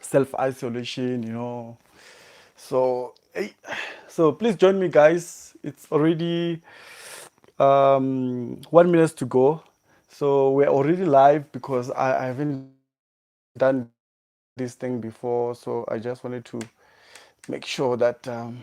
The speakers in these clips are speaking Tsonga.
self isolation you know so hey, so please join me guys it's already um, one minutes to go so we're already live because I, I haven't done this thing before so i just wanted to make sure that um,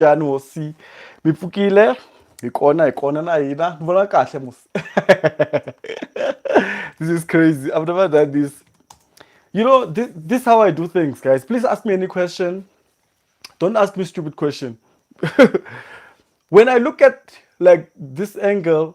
yani hosi mi pfukile hi kona hi kona na hina ni vona kahle mos this is crazy i've never done this you know this, this how i do things guys please ask me any question don't ask me stupid question when i look at like this angle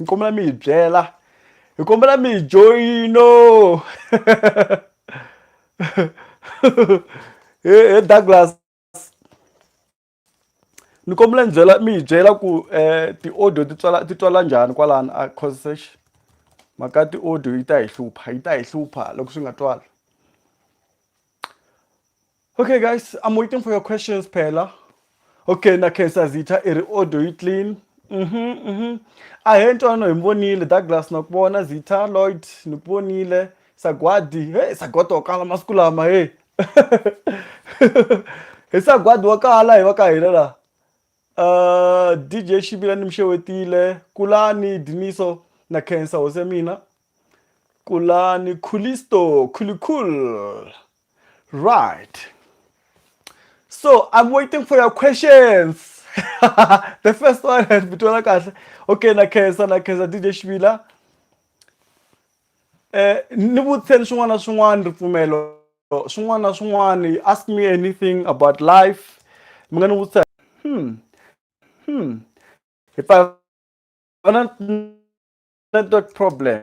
ni kombela mi hi byela hi kombela mi hi joyino he douglas ni kombela ni byela mi hi byela ku um ti-audio ti tswala ti twala njhani kwalani a causesh mhaka ti-audio yi ta hi hlupha yi ta hi hlupha loko swi nga twali Okay guys, I'm waiting for your questions phela. Okay, na Khensa Zitha i ri audio yi clean. Mhm, mhm. A he ntwano hi mi vonile Douglas na ku vona Zitha Lloyd ni ku vonile Sagwadi. Hey, Sagwadi wa kala masiku lama hey. Hi Sagwadi wa kala hi va ka hina la. Uh, DJ Shibila ni mi xewetile, Kulani Diniso na Khensa hose mina. Kulani Khulisto, Khulikul. Right. So I'm waiting for your questions. the first one has Bitola Kahle. Okay, na Kesa, na Kesa, DJ Shvila. Eh, ni vutise ni swin'wana na swin'wana ripfumelo swin'wana na swin'wana ask me anything about life mi nga ni vutisa hmm hmm if i have a network problem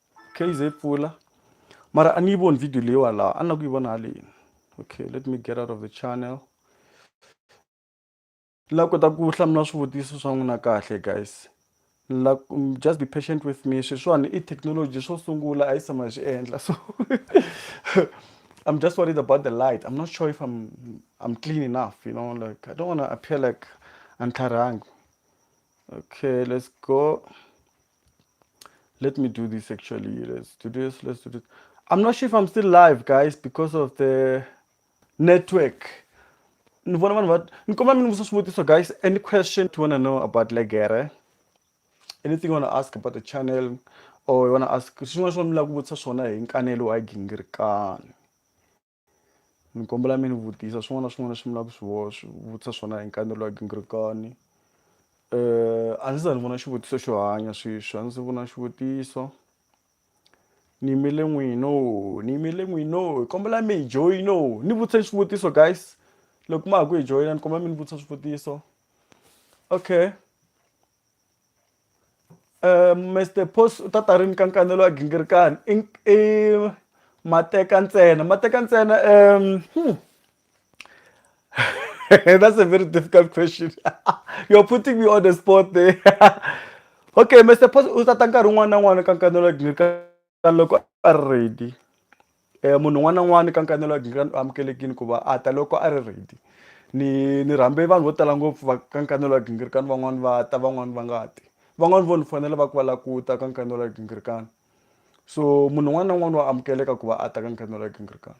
kz pfula mara a ni yi voni video leyiwa laha a ni la ku yi vona haleni okay let me get out of the channel ni la kota ku hlamula swivutiso swa n'wina kahle guys ni la mm, just be patient with me sweswiwani i technology swo sungula a yi tshama hi swi endla so i'm just worried about the light i'm not sure if i'm i'm clean enough you know like i don't want to appear like antlharhangi okay let's go Let me do this actually. Let's do this. Let's do this. I'm not sure if I'm still live, guys, because of the network. ni vona vanhu va ni kombela mi ni vutisa swivutiso guys any question you wanna know about legere anything you wanna ask about the channel or you wanna ask swin'wana swin'wana mi lava ku vutisa swona hi nkanelo wa gingirikani Ni kombela mi ni vutisa swin'wana na swin'wana leswi mi lava ku swi vutisa swona hi nkanelo wa gingirikani a ndzi se za ni vona xivutiso xo hanya sweswi a ndzi se vona xivutiso ni yimele n'wina ni yimele n'wina hi kombela mi hi joyina ni vutise xivutiso guys loko ma ha ku hi joyina ni kombela mi ni vutisa swivutiso okay. Eh, Mr. Post u ta ta rini ka nkanelo wa gingirikani i i mateka ntsena mateka ntsena um hmm. that's a very difficult question you're putting me on the spot there okay Mr. Post u ta ta nkarhi wun'wana na wun'wana ka nkanelo wa gingirikani Ka loko a ri ready munhu un'wana na un'wana ka nkanelo wa amukelekile ku va a ta loko a ri ready ni ni rhambe vanhu vo tala ngopfu va ka nkanelo wa gingirikani van'wani va ta van'wani va nga ti van'wani vo ni fonela va ku va la ku ta ka nkanelo wa gingirikani so munhu un'wana na un'wana wa amukeleka ku va a ta ka nkanelo wa gingirikani.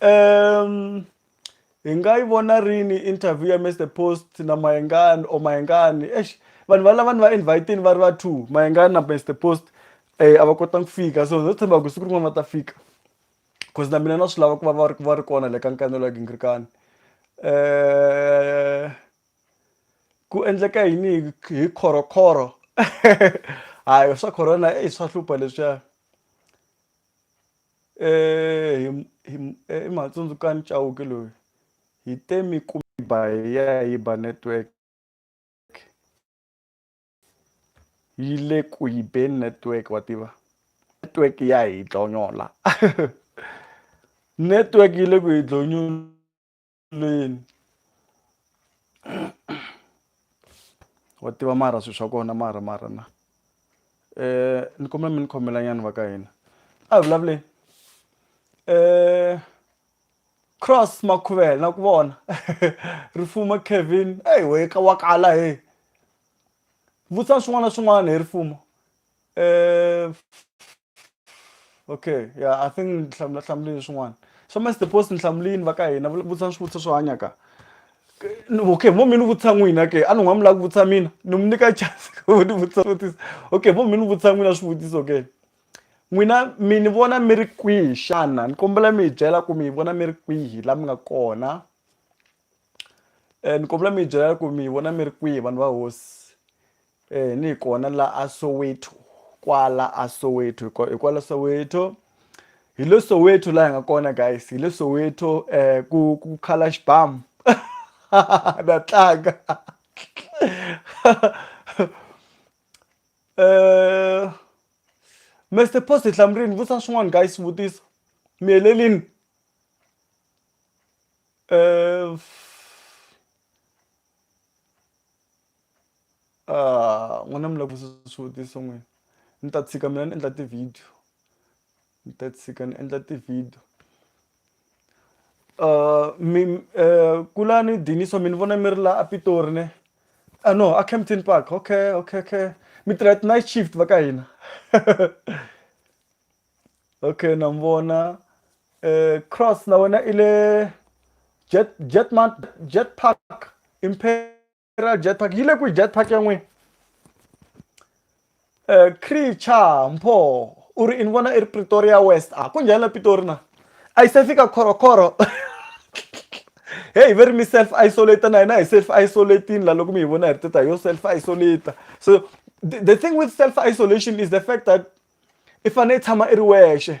um hi nga yi vona rini interview ya Mister Post na Mayengani or Mayengani eish vanhu va lava ni va invite va ri va two Mayengani na Mister Post eh a va kotanga ku fika so ndzo tshemba ku siku rin'wana va ta fika cause na mina na swi lava ku va va ri va ri kona le ka nkanelo ya gingirikani eh ku endleka yini hi khorokhoro hayi swa corona i swa hlupha leswiya Hi hi Mhatsundzukani Chauke loyi hi te mi ku mi ba hi ya hi ba network yi le ku yi beni network wa tiva network ya hi dlonyola network yi le ku hi dlonyula Lean wa tiva mara swilo swa kona mara mara na um ni kombela mi ni khomela nyana va ka hina a hi vulavuleni um cross makhuvela na ku vona ri fuma Kevin eyi wena wa kala heyi vutisa swin'wana na swin'wana hi ri fumo. Uh, okay yeah i think ni hlamula hlamulile swin'wana so mas the post ni hlamulini va ka hina vutisa swivutiso swo hanya ka okay vo mi ni vutisa n'wina ke a ni n'wa mi lava ku vutisa mina ni mi nyika chance ku ni vutisa swivutiso okay vo mi ni vutisa n'wina swivutiso ke n'wina mi ni vona mi ri kwihi xana ni kombela mi hi byela ku mi hi vona mi ri kwihi laha mi nga kona um ni kombela mi hi byela ku mi hi vona mi ri kwihi vanhu va hosi Eeh ni kona la a Soweto kwala a Soweto hi kwala Soweto hi le Soweto la hi nga kona guys hi le Soweto ku ku khala xibamu na tlanga Mister Post hi hlamurini vutisa swin'wana guys swivutiso mi helelini Ah, n'wina mi lava ku swivutiso n'wina ni ta tshika mina ni endla ti-video ni ta tshika ni endla ti-video mi kulani Dinyiswa mi ni vona mi ri la a Pitori ne a no a Kempton Park okay okay okay mi tirha ti-night shift va ka hina okay na mi vona Cross na wena i le Jet Jet Jet Park . ra jetpack yi le ku jetpack ya n'wina um creature mpho u ri ni vona i ri pretoria west a ku njhani la pitori na a yi se fika khorokhoro heyi ve ri mi self isolate na hina hi self isolatini la loko mi hi vona hi ri teta yo self isolate so the thing with self isolation is the fact that i fanele i tshama i ri wexe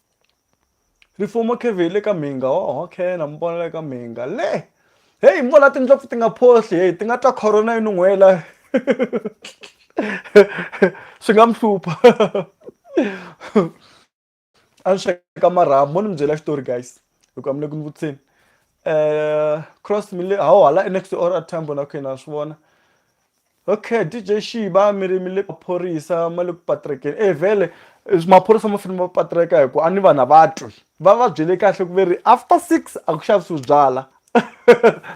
Rifumo Kevin le ka mhinga oho okay na mi vona le ka mhinga le heyi mo la tindlopfu ti nga phohli heyi ti nga twa corona yi nun'hwela swi nga mi hlupha a ni sweka marhambu mo ni mi byela xitori guys hikuva mi le ku ni vutiseni um cross mi le hawu hala next to or tambo na okay na swi vona Okay DJ Shiba mi ri mi le maphorisa ma le ku patrekeni e vhele maphorisa ma fanele ma patreka hi ku a ni vanhu a va twi va va byele kahle ku ve ri after six a ku xavisiwi byala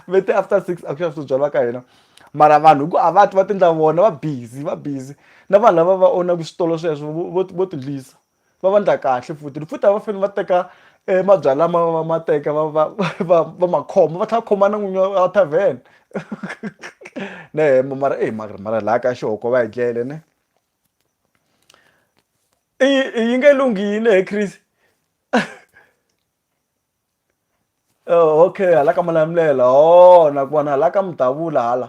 ve te after six a ku xavisiwi byala ka hina mara vanhu hi ku a va twi va ti endla vona va busy va busy na vanhu lava va own-aka switolo sweswo vo vo ti dlisa. va va ndla kahle futhi ni futhi a va fane va teka e mabyalwa ma va ma teka va va va va ma khoma va tlhela va khoma na n'winyi wa tavern ne hembe mara eyi mara mara laha ka xihoko va hi dlele ne i yi nge lunghi yini he Chris okay hala ka Malamulele ho na ku vona hala ka Mudavula hala.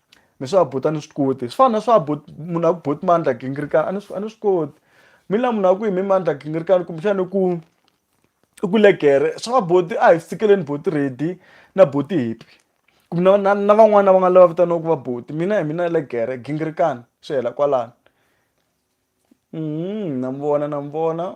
mi swa buti a ni swi koti swi fana na swa buti munhu a ku buti mandla gingirikana a ni swi a ni swi koti mi la munhu a ku hi mi mandla gingirikana kumbexana ku i ku legere swa buti a hi swi tsikeleni buti ready na buti hippy kumbe na na na van'wani lava nga lava vitaniwaka va buti mina hi mina legere gingirikana swi hela kwalano na mi vona na mi vona.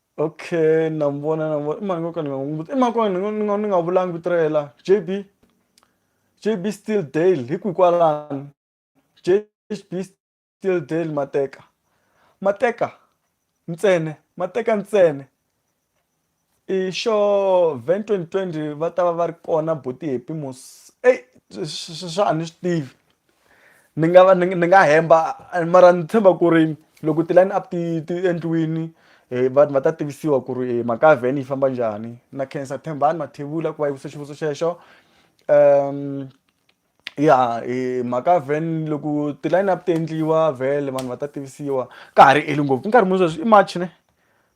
okay na n'wi vona na n'wi vona i mhani nkoka ni nga n'wi i mhani nkoka ni nga ni nga ni nga vulangi vito ra yena la jb jb still dale hi kwihi kwalano jb still dale mateka mateka ntsena mateka ntsena i xo van 2020 va ta va va ri kona buti happy mos eyi swa a ni swi tivi. ni nga va ni ni nga hemba mara ni tshemba ku ri loko ti-line up ti ti endliwini vanhu va ta tivisiwa ku ri mhaka ya van yi famba njhani na khensa Thembani Mathevula ku va yi vutise xivutiso xexo ya mhaka ya van loko ti-line up ti endliwa vhele vanhu va ta tivisiwa ka ha ri eli ngopfu i nkarhi muni sweswi i March ne.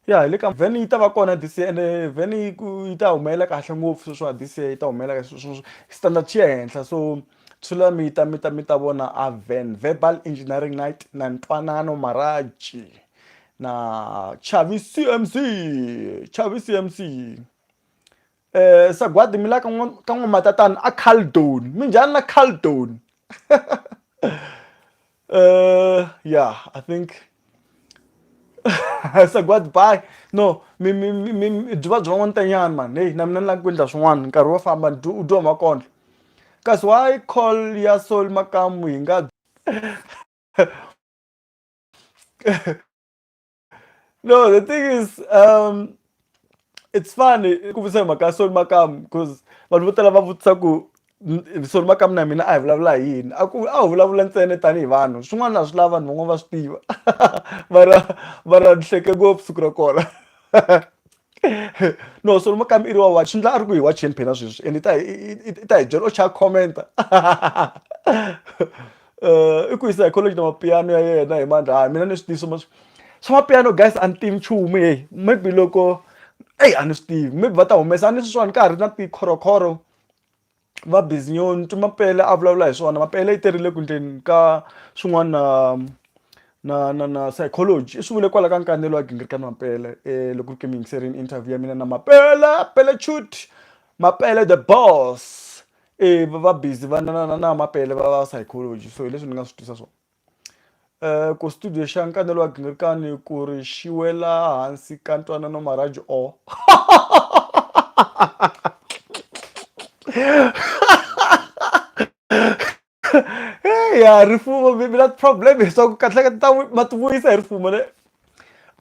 ya hi le ka vhene yi ta va kona this year ende vhene yi ku yi ta humelela kahle ngopfu sweswiwa this year yi ta humelela kahle sweswo standard xi ya henhla so tshula mi ta mi ta mi ta vona a van verbal engineering night na ntwanano maraji na chavi cmc chavi cmc Eh sagwadi mi la ka ka n'wamatatana a Caldon minjhani la Caldon eh yeah i think sagwadi bye no mi mi mi mi byi va byi van'wana tanyana mani heyi na mina ni lava ku endla swin'wana nkarhi wo famba ni dyi u dyiwa makondlo kasi why call ya sol makamu hi nga No, the thing is, um, it's funny ku vutisa hi mhaka ya Solly Makamu because vanhu vo tala va vutisa ku "N- Solly Makamu na mina a hi vulavula hi yini a ku a hi vulavula ntsena tanihi vanhu swin'wana a swi lava vanhu van'wana va swi tiva va ra va ra ni hleke ngopfu siku ra kona no so mukami i ri wa watch swi ndla a ri ku hi watcheni phela sweswi and i ta i ta hi byela o chaya commenta um i ku yisa hi college na mapiano ya yena hi mandla hayi mina ni swi tivi swa swa mapiano guys a ni tivi nchumu heyi maybe loko eyi a ni swi tivi maybe va ta humesa a ni sweswiwani ka ha ri na tikhorokhoro va bizinyoni ni twi mapele a vulavula hi swona mapele yi terile ku endleni ka swin'wana na na na na psychology i swi vule kwala ka nkanelo wa gingiriko mapele um loko ri ku mi yingiserile interview ya mina na mapele pele chut mapele the boss um va busy va na na na na mapele va va psychology so hi leswi ni nga swi twisa swona. Uh, ku studio xa nkanelo wa gingirikani ku ri xi wela hansi ka ntwanano maraji o ya rifumo mi na problem leswaku kahleka ta ma ti vuyisa hi rifumo ne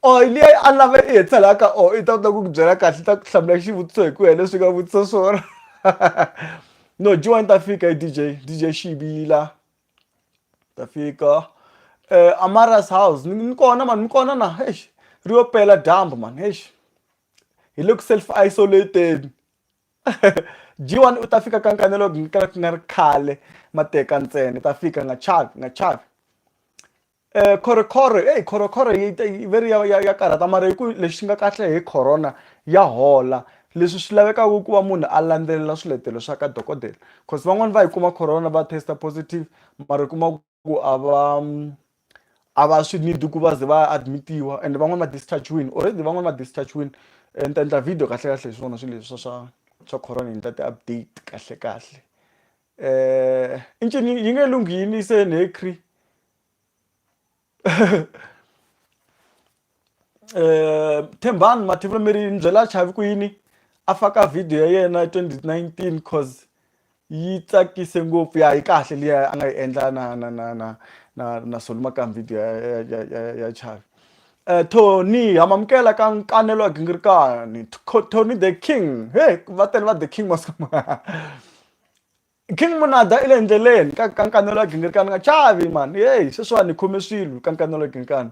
o oh, leyi a lava i hetselaka o oh, i ta kota ku ku byela kahle ta ku hlamula xivutiso hi ku ya leswi nga vutisa swona no jiwani ta fika hi dj dj xibila ta fika eh, amara's house ni ni kona mani mi kona na eish ri yo pela dyambu mani eish hi le ku self isolateni G1 u ta fika ka nkanelo ku nga ri khale mateka ntsena ta fika nga chavi nga chavi Khorokhoro eyi khorokhoro yi ta yi ve ri ya ya ya karhata mara hi ku lexi nga kahle hi Corona ya hola leswi swi lavekaka i ku va munhu a landzelela swiletelo swa ka dokodela coz van'wani va yi kuma Corona va test positive mara u kuma ku a va a va swi need ku va ze va ya admit-iwa and van'wani va discharge-wini already van'wani va discharge-wini ni ta endla video kahlekahle hi swona swilo leswi swa swa swa Corona ni endla ti-update kahlekahle. eh incini yingelungi yini isenekri eh thembani mathivula mi ri ni byela chavi ku yini a faka video ya yena 2019 cause yi tsakise ngopfu ya yi kahle liya a nga yi endla na na na na na na solumakam video ya ya ya ya ya chavi eh tony hamamukela ka nkanelo wa gingirikani tony the king he va tele va the king maskama King Monada i le endleleni ka ka nkanelo wa gingirikani nga chavi mhani heyi sweswiwani hi khome swilo ka nkanelo wa gingirikani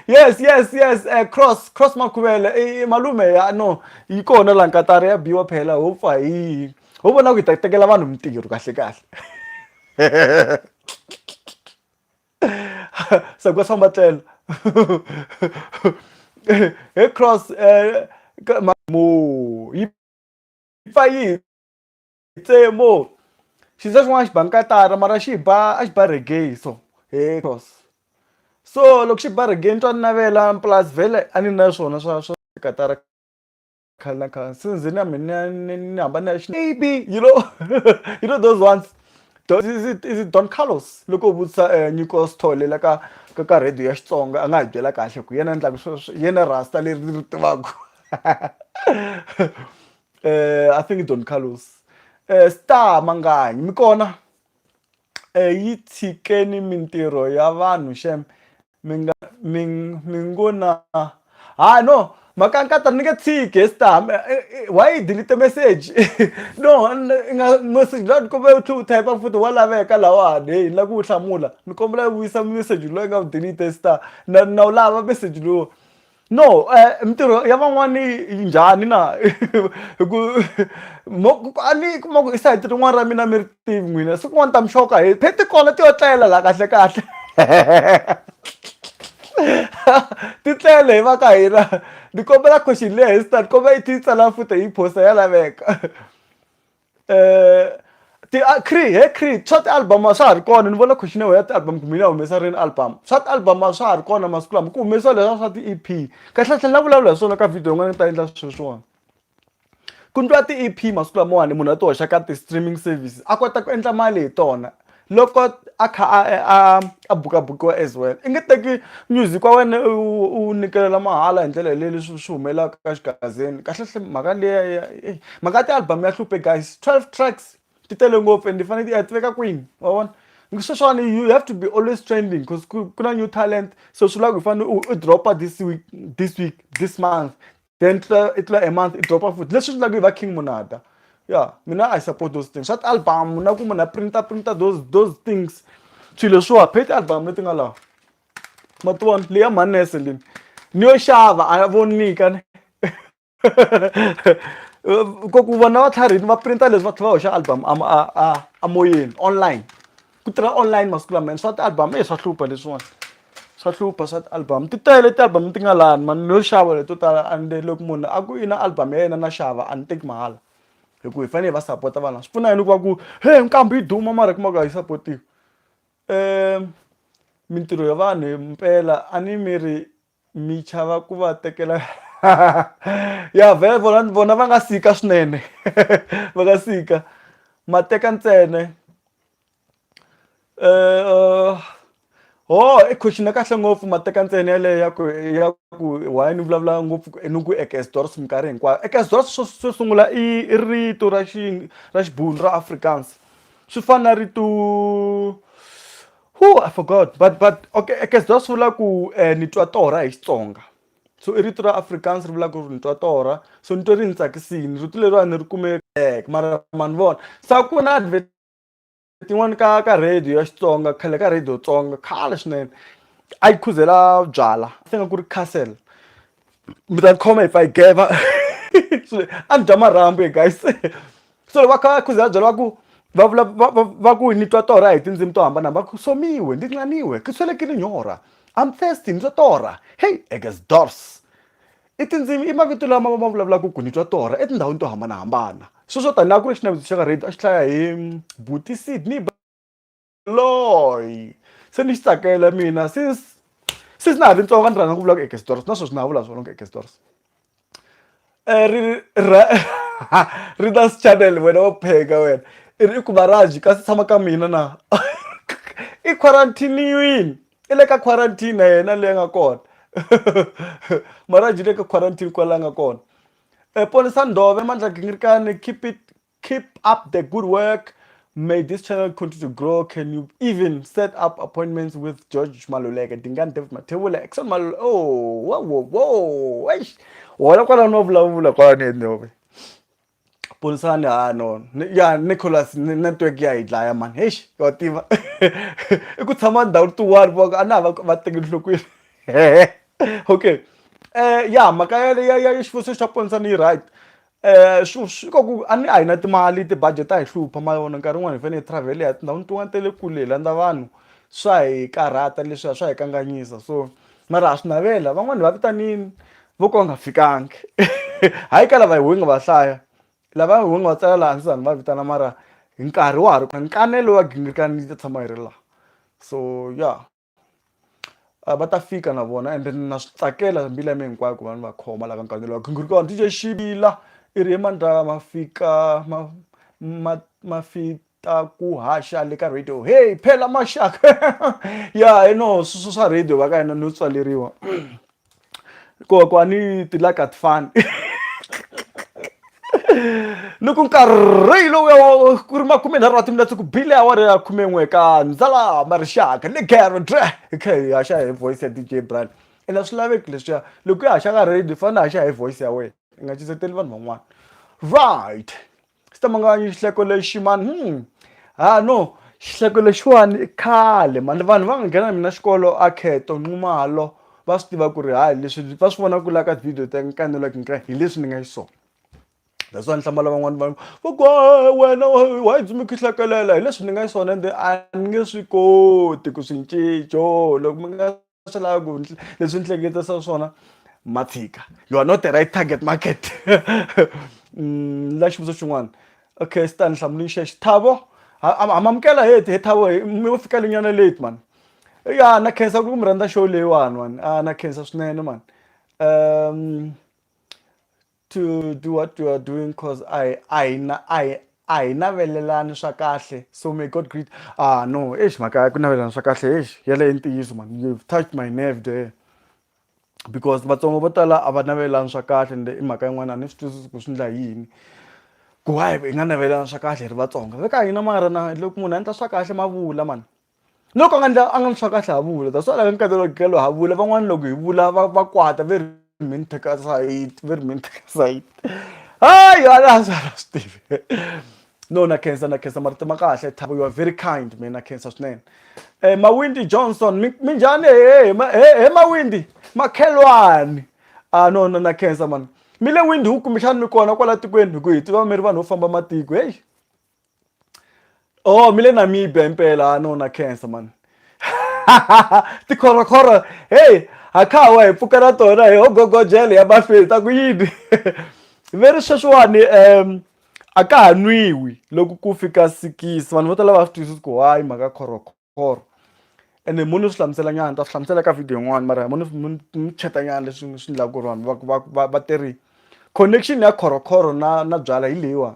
yes yes yes um cross cross makhuvele i malume ya no yi kona laha nkatari ya biwa phela ho pfa hi yini ho vona ku hi ta tekela vanhu mintirho kahle kahle se ku famba tlelo he cross um mo yi fa yini tsemo xinza xin'wana xi ba nkatara mara xi ba a xi ba reggae so he cross so loko xi ba reggae ni twa ni navela plus vhele a ni na swona swa swa katara khale na khale since na mina ni ni hamba ni ya xi maybe you know you know those ones Don Carlos loko u vutisa Nyiko Sithole la ka ka ka radio ya Xitsonga a nga hi byela kahle ku hi yena a endlaka sweswo hi yena rasta leri ni ri tivaka. uh, i think don carlos uh, star manganyi mi kona uh, yi tshikeni mintirho ya vanhu xem mi nga mi mi ngo na ha no mhaka nkata ni nge tshiki star why yi delete message no nga message la ni kombela u tlhe u type futhi wa laveka lawani heyi ni la ku wu hlamula ni kombela u vuyisa message loyi nga wu delete star na na wu lava message lowu No mintirho ya van'wani yi njhani na hi ku a ni yi kuma ku i sayiti rin'wana ra mina a mi ri tivi n'wina siku rin'wana ni ta mi xoka hi phe tikona ti yo tlela la kahle kahle ti tlele hi va ka hina ni kombela question leyi a hi swi ta ni kombela i tlhela i yi tsala futhi hi yi post-a ya laveka. eh, ti ah, cre he cre swa ti-album a swa ha ri kona ni vona khoxinewo ya ti-album kumbe ni ya humesa rini album swa ti-album a swa ha ri kona masiku lama ku humesiwa leswa swa ti-ep kahlekahle la vulavula hi swona ka video yin'wana ni ta endla sweswiwani ku ndliwa ti-ep masiku lamawani munhu a ti hoxa ka ti-streaming services a kota ku endla mali hi tona loko a kha a a a bukabukiwa as well i nge teki music wa wena u wu nyikela mahala hi ndlela yaleyo leswi swi humelelaka ka xigazini kahlekahle mhaka liya ya eyi mhaka ya ti-album ya hluphe guys twelve tracks ti tele ngopfu ende ti fanele ti ya ti veka kwini wa vona sweswiwani you have to be always trending because ku ku na new talent so swi lava ku i fanele u drop-a this week this week this month. then i tlula a month i dropa futhi leswi endlaka hi va king munata ya mina i support those things swa ti-album na ku munhu a printa printa those those things swilo leswiwa phe ti-album leti nga lawa ma ti vona leya manese lini ni yo xava a vonika ni ku vona va tlharihini va printa leswi va tlhela va hoxa album a a a moyeni online ku tirha online masiku lama and swa ti-album e swa hlupha leswiwani swa hlupha swa ti-album ti tele ti-album ti nga lani mani no xava leto tala and loko munhu a ku i na album ya yena na xava a ni teki mahala hi ku hi fanele hi va sapota vana swi pfuna yini ku va ku he nkambi yi duma mara hi kuma ku a yi sapotiwi um mintirho ya vanhu mpela a ni mi ri mi chava ku va tekela ya vhele vona vona va nga sika swinene va nga sika ma teka ntsene um ho i question ya kahle ngopfu ma teka ntsene yaleyo ya ku ya ku why ni vulavula ngopfu ni ku ekesdors minkarhi hinkwayo ekesdors swo swo sungula i i rito ra xi ra xibunu ra afrikaans swi fana na rito Whoo, I forgot but but okay I guess that's vula ku eh, ni twa torha hi Xitsonga so i rito ra Afrikaans ri vula ku ni twa torha so ni twe ri ni tsakisini rito leriwani ni ri kume eh, mara ma ni vona sa ku na advert tin'wani ka ka radio ya Xitsonga khale ka radio Tsonga khale swinene a yi khuzela byala se nga ku ri castle mi ta khoma if I gave va a ni dya marhambu he guys so va kha va khuza va byela va ku va vula va va va ku ni twa torha hi tindzimi to hambana va ku somiwe ndzi nxaniwe ke swele ke ri nyora I'm thirsty ni twa torha hey eges dors i tindzimi i mavito lama ma vulavulaka ku ni twa torha etindhawini to hambanahambana sweswo tanihi a ku ri xinavetiso xa ka radio a xi hlaya hi buti Sydney. loyi se ni xi tsakela mina since since na ha ri ntsongo ni rhandza ku vula ku eke stories na sweswi na ha vula swona ku eke stories eh, ri ra ri ta channel wena wa pheka wena i ri i ku varaji kasi tshama ka mina na i quarantiniwini i le ka quarantine na yena leyi nga kona maraji le ka quarantine kwala nga kona um eh, ponisa ndove mandla gingirikani keep it Keep up the good work. May this channel continue to grow. Can you even set up appointments with George Maluleke, Dingan David Matebula, Exxon Maluleke? Oh, whoa, whoa, whoa. Eish. Wala kwa no vula vula kwa ne no. Punsani ha no. Ya Nicholas network ya idlaya man. Eish, wa tiva. Iku tshama ndhawu tu wani vaka ana va va teki nhlokweni. Okay. Eh ya maka ya ya ya xifuso xa Punsani right. swi swi ka ku a ni a hi na timali ti-budget ta hi hlupha ma vona nkarhi wun'wani hi fanele hi travel-a hi ya tindhawini tin'wani ta le kule hi landza vanhu swa hi karhata leswiya swa hi kanganyisa so mara ha swi navela van'wani hi va vitanini vo ka va nga fikangi hayi ka lava ho nga va hlaya lava ho nga va tsala laha hansi za ni va vitana mara hi nkarhi wa ha ri kona nkanelo wa gingirikani yi ta tshama yi ri laha so ya. Ah, va ta fika na vona ende na swi tsakela mbila mi hinkwako va ni va khoma la ka nkanelo wa khingiri kona dj xivila i ri emandla ma fika ma ma ma fita ku haxa le ka radio hey phela maxaka ya i no swa radio va ka hina no tswaleriwa koho a ni ti like a ti fani loko nkarhi lowu ku ri makume nharhu wa timinetse ku bile awara ya khume n'we ka ndzala marixaka ni gero dre hi kha hi haxa hi voice ya dj brian ene a swi laveki leswiya loko ya haxa ka radio fane haxa hi voice ya wena i nga cinseteli vanhu van'wana right xi ta mangala xihleko lexi mani hmm ha no xihleko lexiwani i khale mani vanhu va nga nghena na mina xikolo a kheto nxumalo va swi tiva ku ri hayi leswi va swi vona ku la ka video ta kanelaka hi nkarhi hi leswi ni nga xiswona that's why ni hlamala van'wana vanhu va ku wena wa yi dzumi khihlekelela hi leswi ni nga xiswona ende a ni nge swi koti ku swi cinco loko mi nga swi lava ku leswi ni hleketisa swona ma tshika you are not the right target market mm, la xivutiso xin'wana okay stan hlamulini xexi thavo amamukela heti he thavo mi wo fika linyana late mani ya na khensa ku mi rhandza show leyiwani mani a na khensa swinene mani um to do what you are doing because I I I a hi navelelani swa kahle so may god greet ah no eish mhaka ku navelelana swa kahle eish yeleyo ntiyiso man you've touched my nerve there because vatsongo vo tala a va navelelani swa kahle ende i mhaka yin'wana a ni swi twisisi ku swi ndla yini ku why hi nga navelelana swa kahle hi ri vatsonga ve ka hina mara na loko munhu a endla swa kahle ma vula mani loko a nga ndla a nga ni swa kahle ha vula that's why la ka nkarhi lowu kalo ha vula van'wana loko hi vula va va kwata very mean teka side very mean teka side hayi a la swi a swi tivi no na khensa na khensa marito ma kahle thabo you are very kind mina na khensa swinene eh mawindi johnson mi mi njhani he he mawindi makhelwani ah no no na khensa mani mi le windi hu kumbexani mi kona kwala tikweni hi ku hi tiva mi ri vanhu vo famba matiko heyi oh mi le namibia impela ha nona cancer mani tikhorokhoro heyi ha kha wa hi pfuka na tona hi ogogojele ya mafini ta ku yini ve ri sweswiwani um a ka ha nwiwi loko ku fika sikisi vanhu vo tala va swi twisisi ku why mhaka khorokhoro or ene mo ni swi hlamusela nyana ni ta swi hlamusela ka video yin'wana mara mo ni ni chat-a nyana leswi swi endlaka ku ri vanhu va va va te ri connection ya khorokhoro na na byalwa hi leyiwa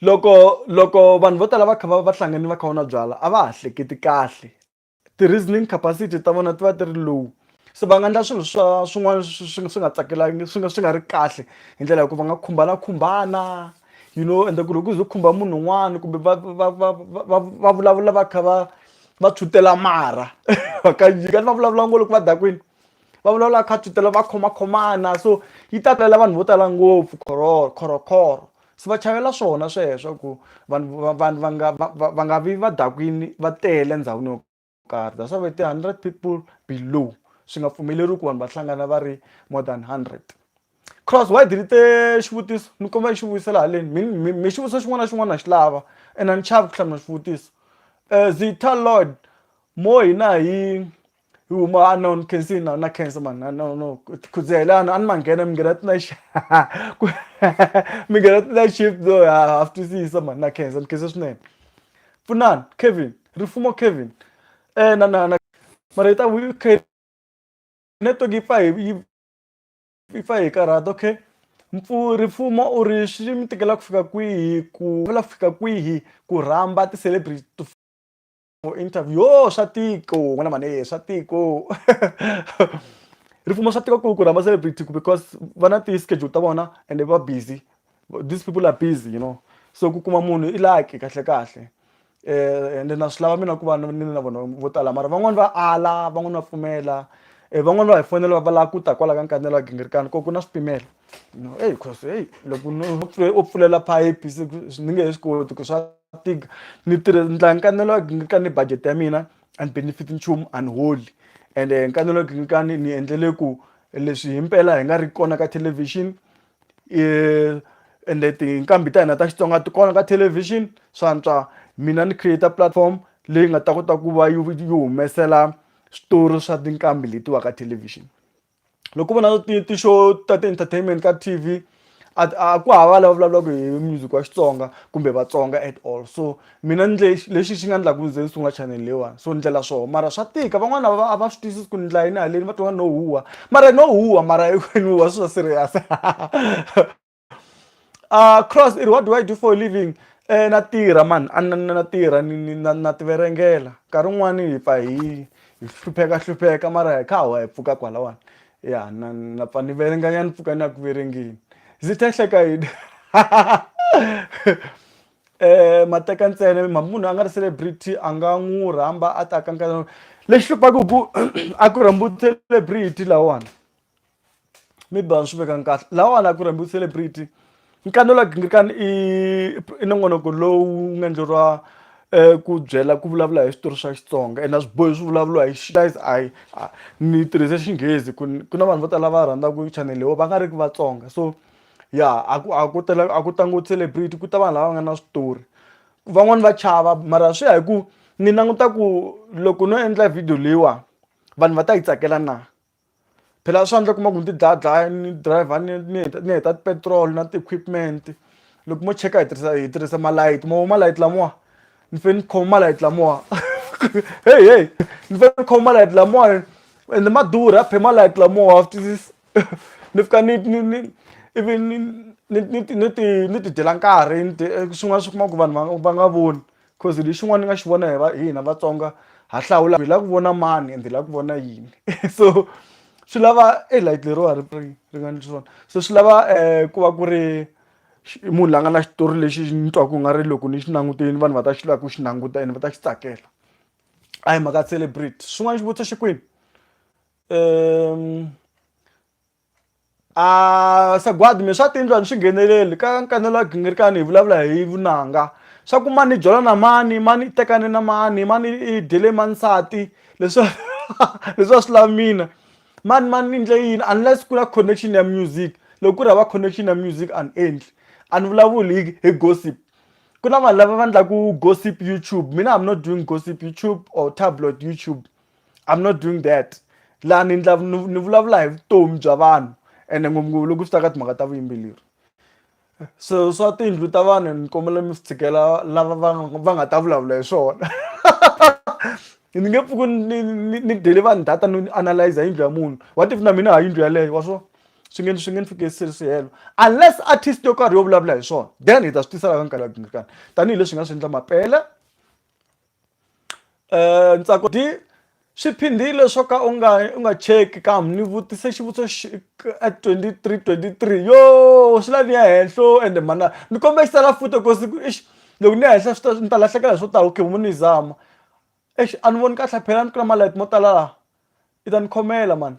loko loko vanhu vo tala va kha va va hlangane va kha va nwa byalwa a va ha hleketi kahle ti-reasoning capacity ta vona ti va ti ri low. se va nga endla swilo swa swin'wana swi swi nga tsakelaki swi nga swi nga ri kahle hi ndlela ya ku va nga khumbanakhumbana you know ende ku loko ku ze ku khumba munhu un'wana kumbe va va va va va vulavula va kha va va tshwutela mara va ka nyika ni va vulavula ngo loko va dakwini va vulavula kha tshwutela va khomakhomana so yi ta talela vanhu vo tala ngopfu khororo khorokhoro se va chavela swona sweswo ku vanhu vanhu va nga va nga vi va dakwini va tele endhawini yo. karhi that's why va ti 100 people below swi nga pfumeleriwi ku vanhu va hlangana va ri more than 100 cross why delete xivutiso ni kombela ni xi vuyisela haleni mi mi xivutiso xin'wana na xin'wana na xi lava and a ni chavi ku hlamula xivutiso um zita lord mo hina hi hi huma a no ni khensi na na khensa mani na no no khudzela a ni ma nghena mi nghena tina mi nghena tina shift no ha ha swi twisisa mani na khensa ni khensa swinene Pfunani Kevin rifumo Kevin eh na na na mara ita wi khe network yi pfa hi yi pfa hi karhata okay mpfu rifumo u ri swi mi tikela ku fika kwihi ku vula ku fika kwihi ku rhamba ti-celebrity to for interview yo swa tiko n'wana mhani swa tiko rifumo swa tika ku ku rhamba celebrity ku because va na ti-schedule ta vona ende va busy these people are busy you know so ku kuma munhu i lucky kahle kahle eh ende na swi lava mina ku va ni na vona vo tala mara van'wani va ala van'wani va pfumela eh van'wani va hi fonela va lava ku ta kwala ka nkanela wa gingirikani ko ku na swipimelo no eyi cause eyi loko u pfulela phayiphi ni nge he swi koti ku swa tika ni tirhe ni dlaya nkanelo wa gingirikani ni budget ya mina a ni benefit nchumu a ni holi ende nkanelo wa gingirikani ni endlele ku leswi himpela hi nga ri kona ka thelevhixini ende tinqambi ta hina ta xitsonga ti kona ka thelevhixini swantswa mina ni create platform leyi nga ta kota ku va yi yi humesela switori swa tinqambi letiwa ka thelevhixini loko vona ti ti xo ta ti-entertainment ka T_V a ku hava lava vulavulaka hi music wa Xitsonga kumbe Vatsonga at all so. Mina ni ndle lexi xi nga ndla ku ni ze ni sungula chanel leyiwani so ni ndlela swoho mara swa tika van'wana a va a va swi twisisi ku ni ndla yini haleni va twa nga no huha mara no huha mara ni huha swi swa serious a Cross i ri what do I do for a living na tirha mani a ni na tirha ni ni na na ti verengela nkarhi wun'wani hi pfa hi hi hlupheka hlupheka mara hi kha ha wa hi pfuka kwalawani ya na na pfa ni verenga nyana ni pfuka ni ya ku verengeni Zithe hleka yini. eh mateka ntsena munhu a nga ri celebrity a nga n'wi rhamba a ta kankana lexi hluphaka ku a ku rhambi celebrity lawani maybe a ni swi vekanga kahle lawani a ku rhambi celebrity nkani la gingirikani i i nongonoko lowu nga endleriwa um ku byela ku vulavula hi switori swa xitsonga ene a swi bohi swi vulavuriwa hi guys i ni tirhise xinghezi ku ku na vanhu vo tala va rhandzaka chanel leyi va nga ri ki vatsonga so Ya a ku a ku tala a ku tlangiwa celebrity ku ta vanhu lava nga na switori. Van'wani va chava mara swi ya hi ku ni languta ku loko no endla video leyiwani vanhu va ta yi tsakela na. Phela swa endleka u kuma ku ni ti dlaya dlaya ni driver ni ni heta ni heta ti-petrol na ti-equipment loko mo cheka hi tirhisa hi tirhisa malayithi mo vona malayithi lamawa ni fanele ni khoma malayithi lamawa heyi heyi ni fanele ni khoma malayithi lamawani ende ma durha phela malayithi lamawa wa swi twisisa. ni fika ni ni ni ivi ni ni ni ti ni ti ni ti dyela nkarhi ni dye swin'wana swi kuma ku vanhu va nga va nga voni coz hi xin'wana ni nga xi vona hi va hina Vatsonga ha hlawula hi lava ku vona mani ende hi lava ku vona yini so swi lava e light leriwani ri ri nga ni swona se swi lava ku va ku ri munhu la nga na xitori lexi ni twaku ku nga ri loko ni xi langutile vanhu va ta xi lava ku xi languta ene va ta xi tsakela a hi mhaka celebrate xin'wana xivutiso xi kwini. um a sagwadi mi swa tiyindlu a ni swi ngheneleli ka nkanelo wa gingirikani hi vulavula hi vunanga swa ku mani jola na mani mani i tekane na mani mani i dyele mani nsati leswi leswi a swi lavi mina mani mani ni ndle yini unless ku na connection ya music loko ku ri hava connection ya music a ni endli a ni vulavuli hi hi gossip ku na vanhu lava va endlaku gossip YouTube mina am not doing gossip YouTube or tabloid YouTube i'm not doing that laha ni ndla ni vulavula hi vutomi bya vanhu ende ngopfungopfu loko swi ta ka timhaka ta vuyimbeleri so swa tiyindlu ta vanhu ni kombela mi swi tshikela lava va va nga ta vulavula hi swona ni nge pfuki ni ni dele vanhu data ni analyze yindlu ya munhu what if na mina ha yindlu yaleyo wa swona swi nge swi nge ni fike sihelo unless artist yo karhi yo vulavula hi swona then hi ta swi tisa laka nkarhi ya tanihi leswi hi nga swi endla mapela um ntsako di swi phindile swo ka u nga u nga cheki kambe ni vutise xivutiso at twenty three twenty three yo swi la ni ya henhlo ende mhana ni kombela xi tsala futa ku siku ixi loko ni ya henhla swi ta ni ta lahlekela hi swo tala okay mo ni yi zama exi a ni voni kahle phela ni ku na malight mo tala laha i ta ni khomela mani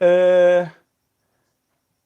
um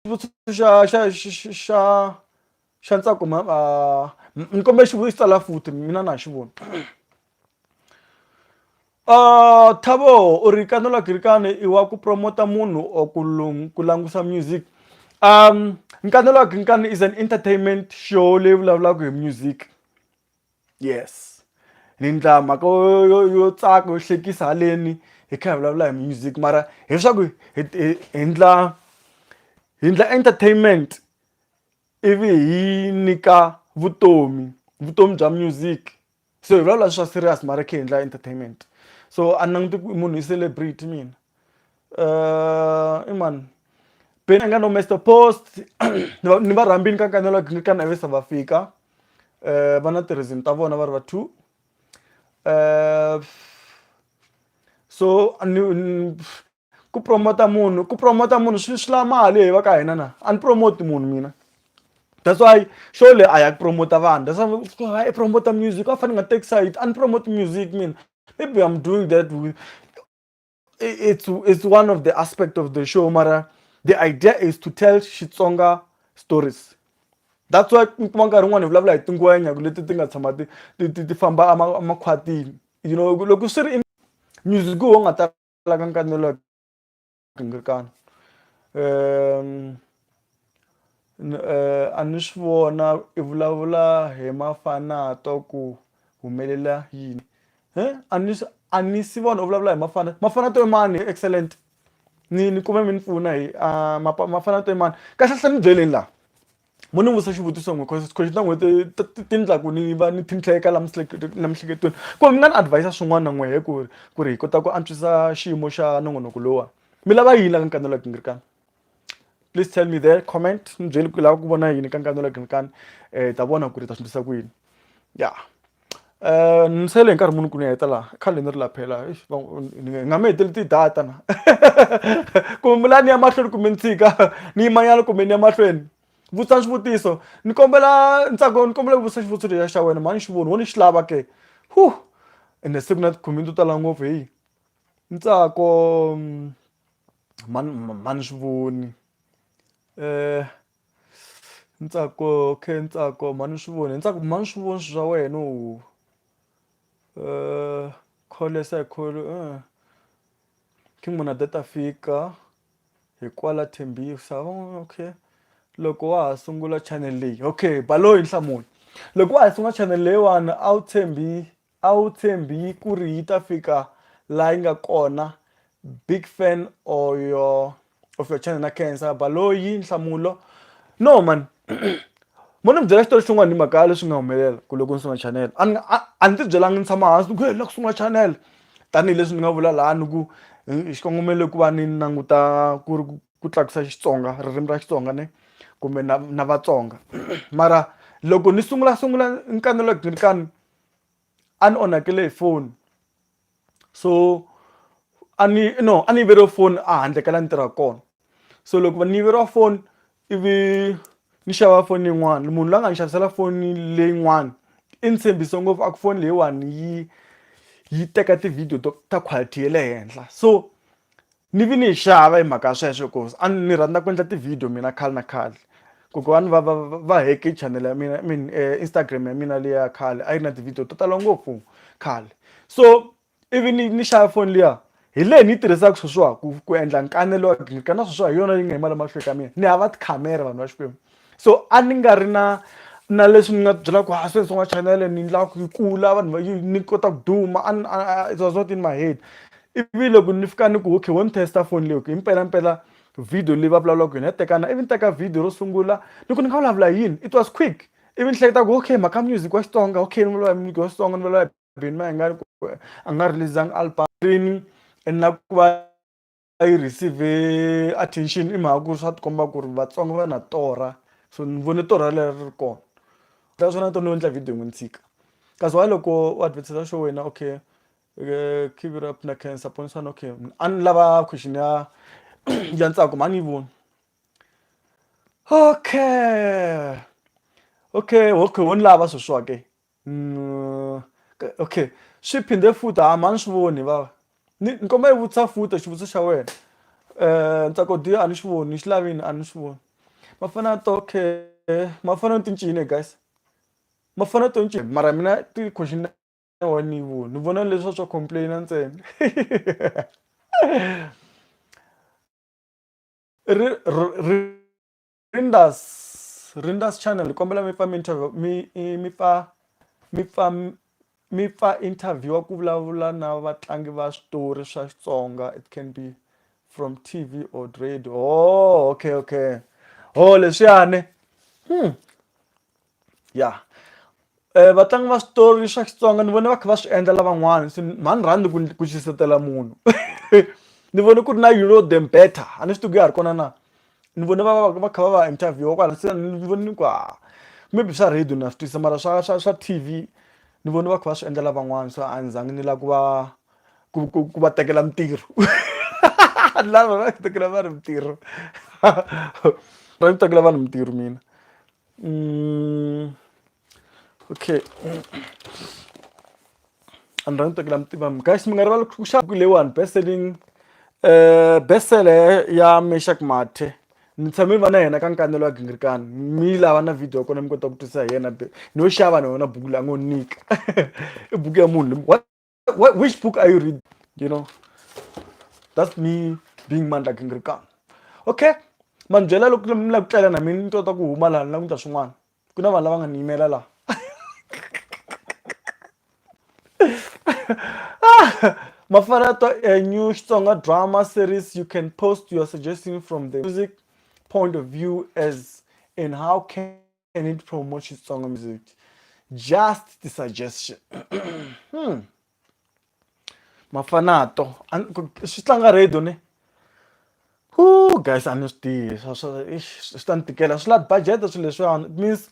xivutiso xa xa xa xa ntsako ma ni kombela xivutiso tsala futhi mina na ha xi voni Uh, Thabo u ri kanola girikane i wa ku promota munhu or ku ku langusa music um nkanola girikane is an entertainment show leyi vulavulaka hi music yes ni ndla mhaka yo tsaka yo hlekisa haleni hi kha hi vulavula hi music mara hi swaku hi ndla hi ndla entertainment ivi hi nyika vutomi vutomi bya music so hi vulavula swa serious mara hi kha hi ndla entertainment so a ni languti ku munhu i celebrity mina i mani Benny a nga no Mister Post ni va ni va rhambini ka ka na va fika. eh, va na ti-reason ta vona va ri va two eh, so ku promota munhu ku promota munhu swi swi la mali hi va ka hina na a ni promote munhu mina that's why show le a ya ku promota vanhu that's why i promota music a fane nga take side a ni promote music mina maybe i'm doing that with it's it's one of the aspect of the show mara the idea is to tell xitsonga stories that's why mi kuma nkarhi wun'wana hi vulavula hi tingwenya leti ti nga tshama ti ti ti famba emakhwatini you know loko swi ri music wo nga talaka nkanelo kingirikana um a ni swi vona i vulavula hi mafanato ku humelela yini a ni a ni si vona u vulavula hi mafana mafanato i mani excellent ni ni kume mi ni pfuna hi mafanato i mani kahle hle ni byeleni la mo ni vutisa xivutiso n'we cause xikweleti ta n'hweti ti ti endla ku ni va ni tlhintlheka la la miehleketweni ku mi nga ni advise swin'wana n'we hi ku ri ku ri hi kota ku antswisa xiyimo xa nongonoko lowuwani mi lava yini la ka ni kanelaka ni ri ka. please tell me there comment ni byeli ku lava ku vona yini ka nkani wa green kan eh ta vona ku ri ta swi ndlisa ku yini ya eh ni sele nkarhi munhu ku ni heta la khale ni ri la phela ni nga mi heteli ti-data na kumbe la ni ya mahlweni kumbe ni tshika ni yimanyana kumbe ni ya mahlweni vutisa swivutiso ni kombela ntsako ni kombela ku vutisa xivutiso lexa xa wena mhani xi voni wo ni xi lava ke hu ende siku na tikhomini to tala ngopfu heyi ntsako mm, mhani mhani ni swi voni ni tsaka okay ni tsaka mhani ni swi voni ni tsaka mhani ni swi voni swilo swa wena call yes I call munhu a te ta fika hi kwala Tembisa okay loko wa ha sungula channel leyi okay baloyi nhlamulo loko wa ha sungula channel leyiwani a wu tshembi A wu tshembi kuri yi ta fika la yi nga kona big fan or your of your channel na khensa Baloyi nhlamulo no man mo ni byela xitori xin'wana hi mhaka ya leswi nga humelela ku loko ni sungula channel a ni a a ni ti byelanga ni tshama hansi ni ku he ni la ku sungula channel tanihileswi ni nga vula laha ni ku xikongomelo ku va ni languta ku ri ku tlakusa Xitsonga ririmi ra Xitsonga ne kumbe na na Vatsonga mara loko ni sungulasungula ni kanelaka ni ri tano. a ni onhakele hi foni so a ni no a ni yiveriwe foni a handle ka la ni tirhaka kona so loko va ni yiveriwa foni ivi ni xava foni yin'wana munhu la nga ni xavisela foni leyin'wana i ni tshembise ngopfu a ku foni leyiwani yi yi teka ti-video to ta quality ya le henhla so. ni vi ni yi xava hi mhaka ya sweswo ku a ni rhandza ku endla ti-video mina khale na khale kokwani va va va heke channel ya mina i mean eh, instagram ya mina leya khale a yi ri na ti-video to tala ngopfu khale so ivi ni ni xava foni liya hi leyi ni yi tirhisaka sweswiwa ku ku endla nkanelo wa green kana sweswiwa hi yona yi nga hi mali mahlweni ka mina ni hava tikhamera vanhu va xikwembu so a ni nga ri na na leswi ni nga byela ku a swi sungula chanele ni endla ku yi kula vanhu va yi ni kota ku duma it was not in my head ivi loko ni fika ni ku okay wo ni testa foni leyi okay mpelampela video leyi va vulavula ku yona ya tekana ivi ni teka video ro sungula ni ku ni nga vulavula yini it was quick ivi ni hleketa ku okay mhaka music wa xitsonga okay ni vulavula music wa xitsonga ni vulavula bini ma hi nga a nga release-angi album rini and na ku va a yi receive attention i mhaka ku swa tikomba ku ri Vatsonga va na torha so ni vone torha leri ri kona that's why na to no endla video yin'we ni tshika kasi why loko u advertiser show wena okay keep it up na cancer poni swana okay a ni lava question ya ya ntsako mhani yi voni okay okay okay wo ni lava sweswo ke Mm, okay swi phinde futhi ha mani swi voni vava ni ni kombela yi vutisa futa xivutiso xa wena um ntsako diyo a ni xi voni xi lavini a ni xi voni ma fana to okay ma fana ni tincini guys ma fana to ncini mara mina ti-question wa ni yi voni ni vona leswa swa complaina ntsena ri ri Rinders Rinders channel ni kombela mi pfa mi interview mi mi pfa mi pfa mi pfa interview ku vulavula na vatlangi va switori swa Xitsonga it can be from TV or radio oh okay okay oh leswiyani hmm ya eh, vatlangi va switori swa xitsonga ni vone va kha va swi endla lavan'wana se mhani rhandi ku ku xisetela munhu ni vone ku ri na you know them better a ni swi tiku ya ha ri kona na ni vone va va kha va va interviewa kwala se ni vone ni ku ha maybe swa radio na swi twisa mara swa swa swa t v ni vone va kha va swi endla lavan'wana so a ni zangi ni lava ku va ku ku ku va tekela mintirho lava va tekela vanhu mintirho va tekela vanhu mintirho mina Mm, okay a ni rhandzi tsakela mi tiva mi guys mi nga rivali ku xava leyiwani best selling um eh, best seller ya meshak mathe ni tshame ni va na yena ka nkanelo wa gingirikani mi lava na video ya kona mi kota ku twisisa hi yena ni yo xava na yona buku la ngo nyika i buku ya munhu What, which book are you reading? You know, that's me being mandla gingirikana okay ma ni byela loko mi lava ku tlela na mina ni tota ku huma laha ni lava ku ta swin'wana ku na vanhu lava nga ni yimela laha Mafarato, a new stronger drama series. You can post your suggestion from the music point of view as in how can and it promotes Xitsonga music. Just the suggestion. hmm. Mafanato. Swi tlanga radio ne? Ooh, guys, a ni swi tivi. Swi ta ni tikela. Swi lava budget swilo leswiwani. It means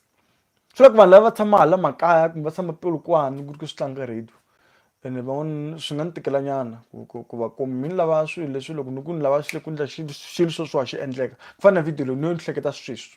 swi lava ku vanhu lava va tshama hala makaya kumbe va tshama pilukwani ku ri ku swi tlanga radio. ene van'wana swi nga ni tikelanyana ku ku va kumbe mi ni lava swilo leswi loko ni ku ni lava ku endla xilo xilo swo swa xi endleka ku fana na video leyi ni yo ni hleketa sweswi.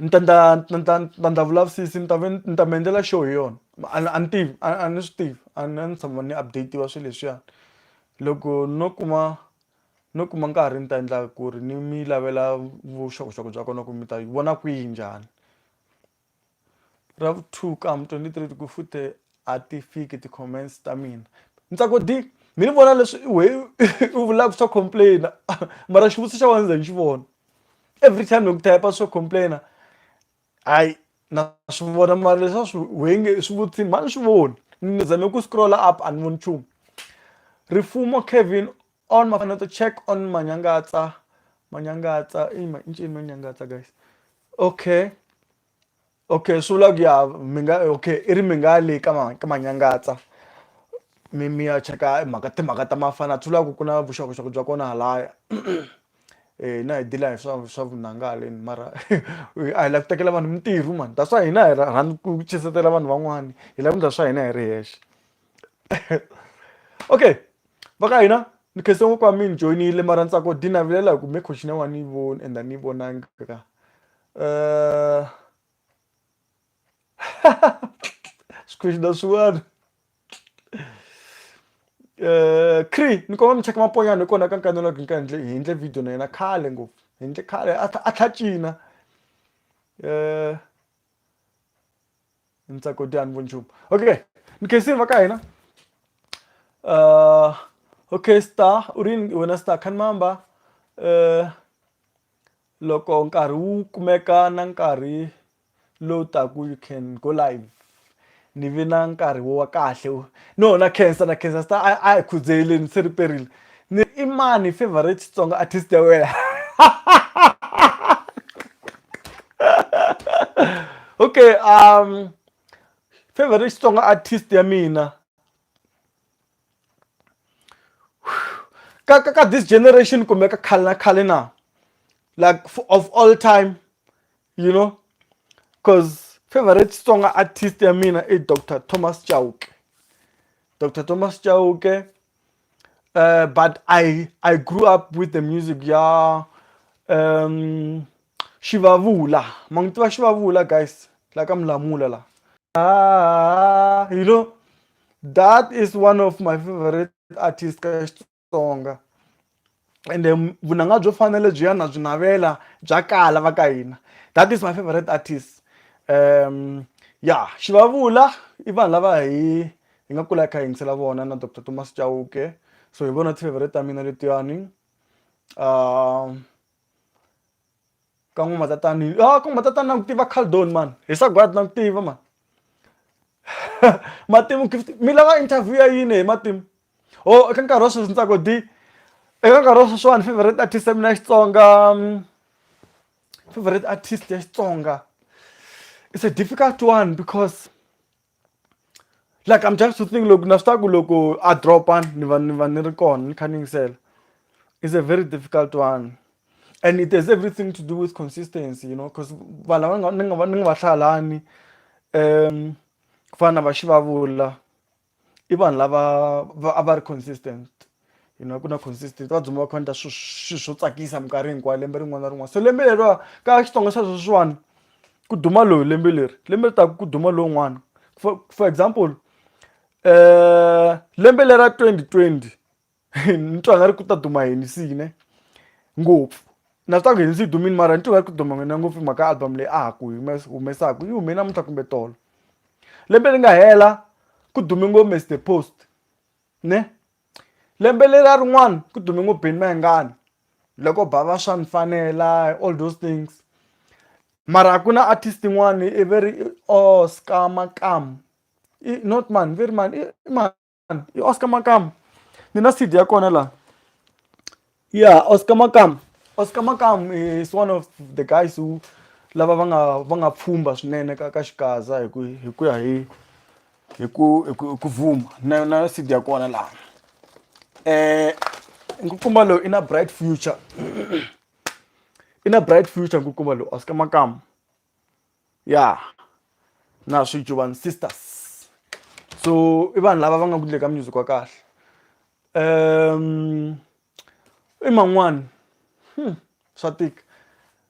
ni ta ndla ni ta ni ta ndla vulavisisi ni ta ve ni ta mi endlela xo hi yona a ni a ni tivi a a ni swi tivi a ni a ni tshama ni update-iwa swilo leswiyani loko no kuma no kuma nkarhi ni ta endla ku ri ni mi lavela vuxokoxoko bya kona ku mi ta yi vona kwihi njhani ra vu two ka ha mi twenty three ku fute a ti fiki ti-comments ta mina ni tswa ku di mi ni vona leswi wehe u vula ku swa complain-a mara xivutiso xa wena ni ze ni xi vona. every time loko type swo complaina hayi na swi vona mara leswa swi wenge swi vutini mani swi voni ni zame ku scrolla up a ni voni nchumu rifumo kevin on mafana to check on manyangatsa manyangatsa i ma incini manyangatsa guys okay okay sula ku ya mi nga okay i ri mi nga le ka ma ka manyangatsa mi mi ya cheka mhaka timhaka ta mafana swi lava ku ku na vuxokoxoko bya kona halaya hina hi deal-a hi swa swa vunanga haleni mara a hi lava ku tekela vanhu mintirho mani that's why hina hi rhandza ku chuhisela vanhu van'wana hi lava ku endla swa hina hi ri hexe okay va ka hina ni khensa ngopfu a mi ni joyinile mara ni tsaka ku dinavelela hi ku me coach na wa ni voni and a ni vonanga ka Uh... As coisas da suado. Uh, Cree, ni koma mi cheka maponyana hi kona ka nkarhi lowu ka ndle hi ndle video na yena khale ngopfu hi ndle khale a tlha cina eh ntsako dyani vo nchumu okay ni khensini va ka hina uh okay star urin wena star khan mamba uh Loko nkarhi wu kumeka na nkarhi lowu taku you can go live ni vi na nkarhi wo wa kahle wo no na khensa na khensa star a a hi khudzeleni se riperile ni i mani favorite Xitsonga artist ya wena okay favorite Xitsonga artist ya mina. ka ka ka this generation kumbe ka khale na khale na like of all time you know because favorite xitsonga artist ya mina i dr thomas chauke dr thomas chauke uh, but i i grew up with the music ya um, Xivavula ma n'wi tiva Xivavula guys la ka Mulamula la ah, you know that is one of my favorite artist ka Xitsonga and then vunanga byo fana lebyi ya na byi navela bya kala va ka hina that is my favorite artist um ya Xivavula i vanhu lava hi hi nga kula hi kha hi yingisela vona na Doctor Thomas Chauke so hi vona ti-favorite ta mina letiyani um ka n'wi matatani ah ka n'wi matatani na n'wi tiva khaldoni mani hi sagwadi na n'wi tiva mani matimu gift mi lava interview ya yini hi matimu o oh, eka nkarhi wa sweswi ntsako di eka nkarhi wa sweswiwani favorite artist ya mina ya xitsonga mm, favorite artist ya xitsonga it's a difficult one because like i'm just to think loko na swi tiva ku loko a dropa ni va ni va ni ri kona ni kha ni yingisela is a very difficult one and it has everything to do with consistency you know because vanhu lava ni nga ni nga va hlaya lani um ku fana na va xivavula i vanhu lava a va ri consistent you know ku na consistent va dzumba va khonta swilo swo tsakisa minkarhi hinkwayo lembe rin'wana na rin'wana so lembe leriwa ka xitsonga xa sweswiwani ku duma loyi lembe leri lembe ri taku ku duma lowun'wana for for example um lembe lera twenty twenty ni twa nga ri ku ta duma yini sine ngopfu na swi taku yini swi yi dumini mara ni twa nga ri ku duma n'wina ngopfu hi mhaka album leyi a ha ku humesaku yi hume namuntlha kumbe tolo lembe ri nga hela ku dume ngo mister post ne lembe leriya rin'wana ku dume ngo Benny Mayengani loko ba va swa ni fanela all those things mara ku na artist yin'wani i ve ri Oscar Makamu i not mani ve ri mani i mani i Oscar Makamu ni na C_D ya kona laha yeah oscar makam oscar makam is one of the guys who lava va nga va nga pfhumba swinene ka ka xikaza hi ku hi ku ya hi hi ku hi ku ku vuma na na sidi ya kona laha eh nkukumba lowu i na bright future i na bright future nkukumba lowu oscar makam ya na swi jovan sisters so i vanhu lava va nga ku ndle ka music wa kahle um i man'wani hmm, swa tika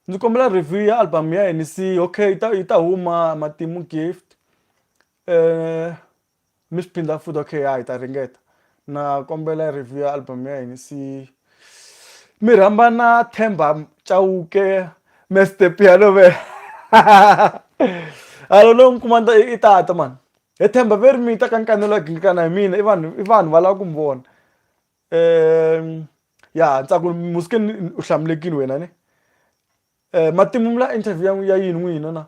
ndzi kombela review ya album ya henisi okay yi ta yi ta huma matimu gift um Mi swi phindha futhi okay ya hi ta ringeta na kombela review ya album ya hina se mi rhamba na Themba Chauke Mister Piano Man a lo no mi kuma ni ta i tata man he Themba ve ri mi ta ka ni kanelo a gingikana hi mina i vanhu i vanhu va lava ku mi vona um ya ni tsaka ku ri Muskeni u hlamulekile wena ne matimu mi la interview ya ya yini n'wina na.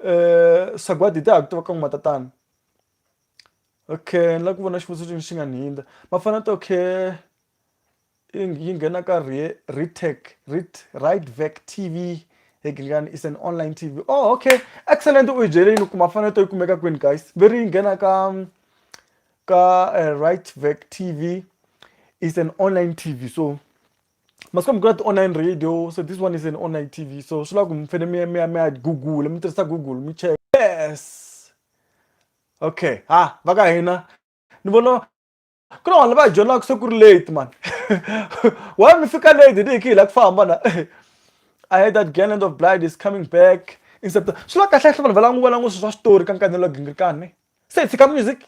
eh, sagwadi hi tihaku ti va ka n'wi matatana okay ni lava ku vona xivutiso xin'we xi nga ni hindza ma fana to okay yi nghena ka retech rit right vec tv Hegelian is an online TV. Oh, okay. Excellent uyijeleni kuma fana to ikumeka kwini guys. Very ngena ka um, ka uh, right vec TV is an online TV. So masiku lama ku na ti-online radio so this one is an online TV so swi lava ku mi fanele mi ya mi ya mi ya Google mi tirhisa Google mi cheka yes okay ha va ka hina ni vona ku na vanhu lava hi dyondzaka se ku ri late man why mi fika late ni hi ki hi lava ku famba na I heard that Garland of Blight is coming back in September swi la kahle kahle vanhu va languva languva swilo swa switori ka nkanelo gingirikani se hi tshika music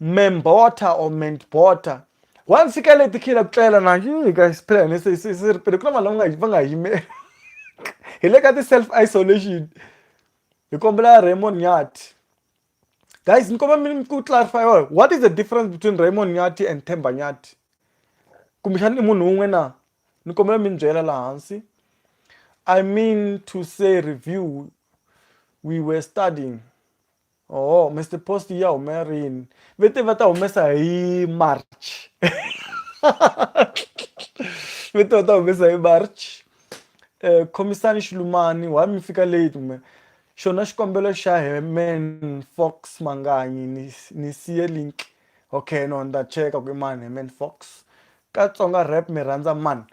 memborta or mentborta once yi kale tikhila ku tlela na ka siphila hine se se se ri pele ku na vanhu lava va nga yimela hi le ka ti-self isolation hi kombela raymond nyati guys ni kombela mi ku clarify what is the difference between raymond nyati and themba nyati kumbexana i munhu wun'we na ni kombela mi ni byela laha hansi i mean to say review we were studying oh mr post ya humela rini ve te va ta humesa hi march ve te va ta humesa hi march um khomisani xilumani why mi fika late me xona xikombelo xa heman fox manganyi ni, ni siye link okay no ni ta cheka ku i mani heman fox ka tsonga rap mi rhandza mani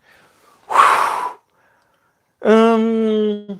um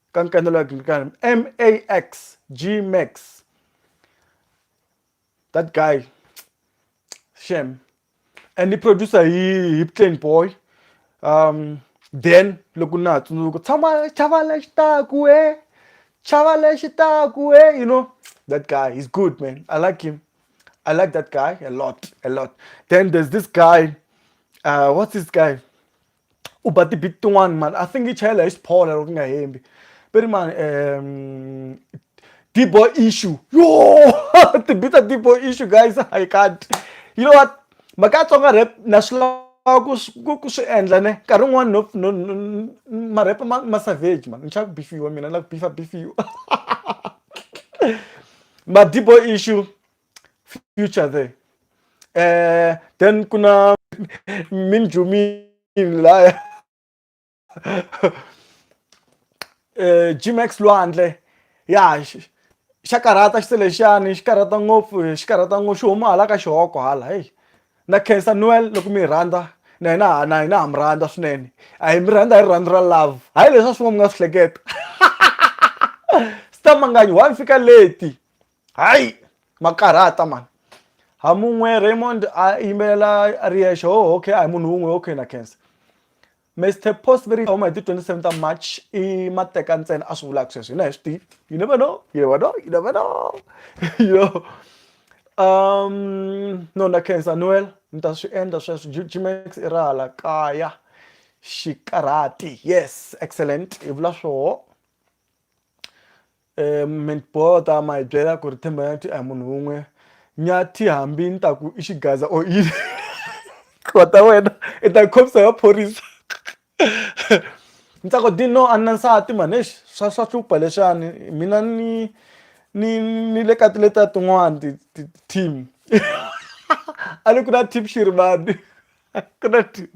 ka nkanelo ya Gingikani MAX G Max that guy shem and i producer hi hi plain boy um then loko na ha tsundzuka tshama chava lexi taku e chava lexi taku e you know that guy he's good man i like him i like that guy a lot a lot then there's this guy uh what's this guy u ba ti-beat tin'wani mani I think yi chayela hi xiphola loko ni nga hembi va ri mani um D-boy issue yo ti-beat ta D-boy issue guys I can't you know what mhaka ya Tsonga rap na swi lava ku ku ku swi endla ne nkarhi wun'wani no no no ma-rap ma ma savage mani ni chava ku beef-iwa mina ni lava ku beef-a beef-iwa ma D-boy issue. future there eh then kuna min jumin laya eh Gmax Lwandle ya xa karhata xi selexani xi karhata ngopfu xi karhata ngopfu xi huma hala ka xihoko hala heyi na khensa noel loko mi hi rhandza na hina na hina ha mi rhandza swinene a hi mi rhandza hi rirhandzu ra love hayi leswi a swin'wa mi nga swi hleketa stamangani wa ni fika leti hayi makarhata mani hamun'we raymond a yimbelela a ri yexe ho okay a hi munhu wun'we okay na khensa mr post veri huma hi ti 27 ta march i mateka ntsena a swi vulaka sweswo hina hi swi tivi you never know you never know you never know you know um no na khensa noel ni ta swi endla sweswo gmax i ra hala kaya xikarhati yes excellent i vula swoho um mintboho ta ma hi byela ku ri themba nyathi a hi munhu wun'we nyathi hambi ni ta ku i xigaza or yini tlwa ta wena i ta khomisa ya phorisa ni ta ku dino a ni na nsati mani exi swa swa hlupha lexani mina ni ni ni le ka tileta tin'wani ti ti team a ni ku na team xi ri mani ku na team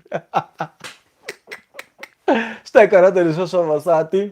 swi ta hi karhata leswa swa vavasati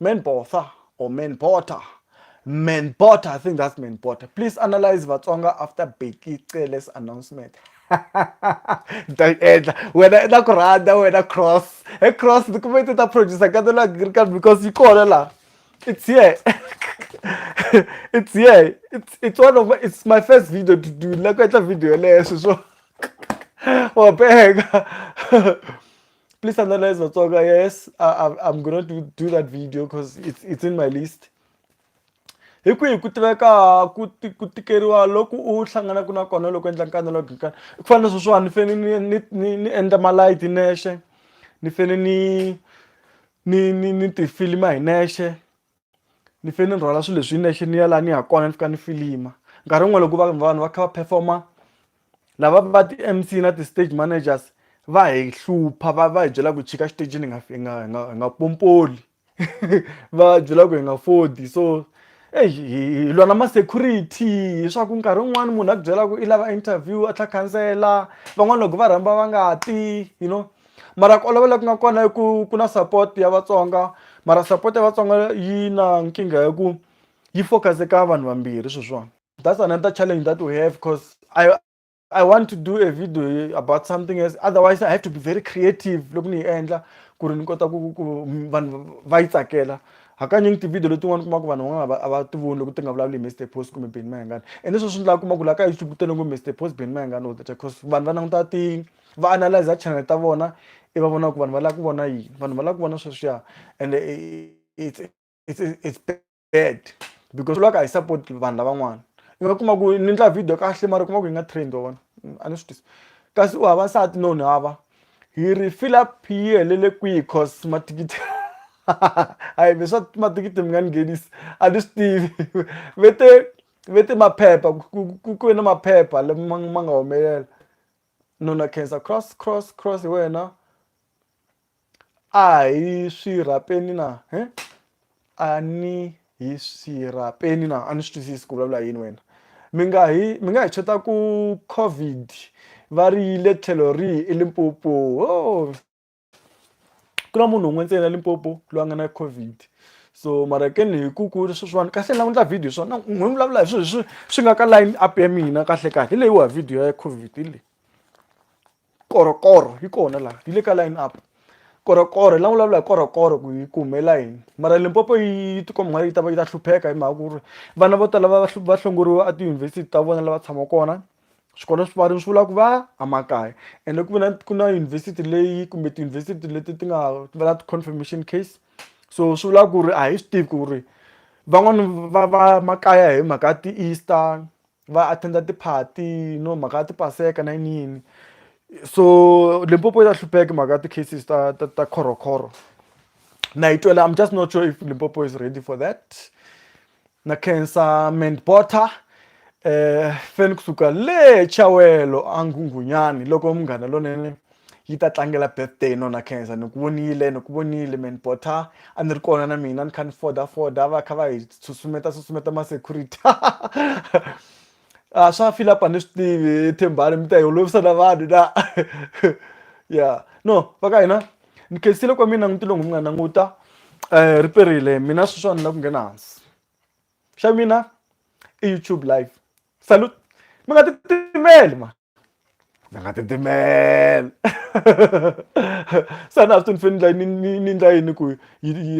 Men Botha or Men Botha. Men Botha, I think that's Men Botha. Please analyze Vatsonga after Becky Cele's announcement. When wena na ku rhandza wena cross e cross ni kume ti ta producer ka tona agriculture because yi kona la it's here it's here it's, it's one of my, it's my first video to do la ku endla video yeleyo sweswo wabeka please analyze Matsonga. Yes, I, am gonna do, do that video because it's, it's in my list. hi kwihi ku tiveka ku ku tikeriwa loku u hlanganaka na kona loko endla nkana loko nkana ku fana na sweswiwani ni fane ni ni ni ni endla malayiti nexe ni fane ni ni ni ni tifilima hi nexe ni fe ni rhwala swilo leswi hi nexe ni ya laha ni ya kona ni fika ni filima nkarhi wun'we loko va vanhu va kha va performer lava va ti-M_C na ti-stage managers va hi hlupha va va hi byela ku chika xitejini hi nga hi nga hi nga hi nga pompoli va byela ku hi nga fodi so eyi hi hi lwa na ma-security hi swa ku nkarhi wun'wani munhu a ku byela ku i lava interview a tlhe a khansela van'wani loko va rhamba va nga ti you know mara ku olova loku nga kona i ku ku na support ya vatsonga mara support ya vatsonga yi na nkingha ya ku yi focus eka vanhu vambirhi sweswiwani that's another challenge that we have because i i want to do a video about something else otherwise i have to be very creative loko ni yi endla ku ri ni kota ku ku vanhu va yi tsakela hakanyingi tivhidiyo letin'wana kuma ku vanhu van'wana a va ti voni loko ti nga vulavuli hi mr post kumbe beni mayengani ende sweswi ni lava kuma ku laha ka youtube ku tele ngo mr post beni mayengani all the time because vanhu va languta ti va analyzer channel ta vona i va vona ku vanhu va lava ku vona yini vanhu va lava ku vona sweswiya and it's it's it's bad because loko a hi support vanhu lavan'wana i nga kuma ku ni endla video kahle mara kuma ku yi nga trend wa vona a ni swi tisi kasi u hava nsati no ni hava hi ri fill up yi helele kwihi cause mathikithi hayi ve swa mathikithi mi nga ni nghenisi a ni swi tivi ve te ve te maphepha ku ku na maphepha lama ma nga humelela nuna Nkhensa cross cross cross hi wena a hi swirhapeni na he a ni hi swirhapeni na a ni swi twisisi ku vulavula yini wena mi nga hi mi nga hi chota ku covid va ri yile tlhelo rihi eLimpopo . ku na munhu un'we ntsena Limpopo loyi a nga na COVID so mara ke ni hi ku ku ri sweswiwani kahle ni lava endla video hi swona ni n'wi vulavula hi swilo leswi swi nga ka line up ya mina kahle kahle hi leyiwa video ya COVID hi leyi korokoro yi kona laha yi le ka line up korokoro la vulavula hi korokoro ku yi kumela yini mara limpopo yi tikomba nga yi ta va yi ta hlupheka hi mhaka ku ri vana vo tala va va hlongoriwa etiyunivhesiti ta vona lava tshamaka kona swikolo swi pfariwile swi vula ku va emakaya ende ku ve na ku na yunivhesiti leyi kumbe tiyunivhesiti leti ti nga va na ti-confirmation case so swi vula ku ri a hi swi tivi ku ri van'wani va va makaya hi mhaka ti-easter va attend-a ti-party no mhaka ti-paseka na yini yini so Limpopo ya hlupheka hi mhaka ti-cases ta ta ta Chorokoro na yi twela I'm just not sure if Limpopo is ready for that. na khensa mend bota eh feni kusuka le chawelo a nghunghunyani loko munghana lonene yi ta tlangela birthday nona khensa ni ku vonile ni ku vonile mend bota a ni ri kona na mina ni kha ni foda foda va kha va hi susumeta susumeta ma security a swa fila pa ni swi tivi hi thembani mi ta hi olovisa na vanhu na ya no va ka hina ni khensile kwa mina n'witilo n'wi nga languta um eh, ri perile mina sweswiwa ni la ku nghena hansi xa mina i youtube live salute mi nga titimeli ma mi nga titimeli sana a swi to ni fane ni ndla yini ku